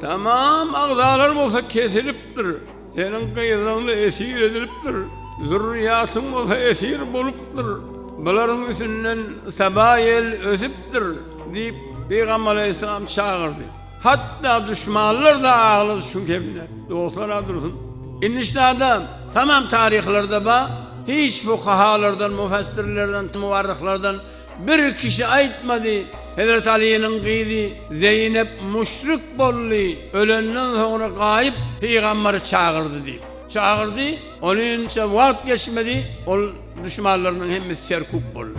Tamam agzalar bolsa kesilipdir. Seniň gyzyňy esir edilipdir. Zürriýatyň bolsa esir bolupdyr. Bularyň üstünden Saba ýel ösüpdir diýip, pygamber alaýhyssalam çagyrdy. Hatda duşmanlar-da aglady şu kemine. Dostlar-a dursun. Indi ştada tamam taryhlarda bar. Hiç fukahalardan, mufassirlerden, muwarryhlardan Bir kişi aýtmady, Hezreti Alynyň gyzy Zeýnep müşrik boldy, ölenden soňra gaýyp pygamberi çagyrdy diýip. Çagyrdy, onynça wagt geçmedi, ol duşmanlarynyň hemmesi serkuk boldy.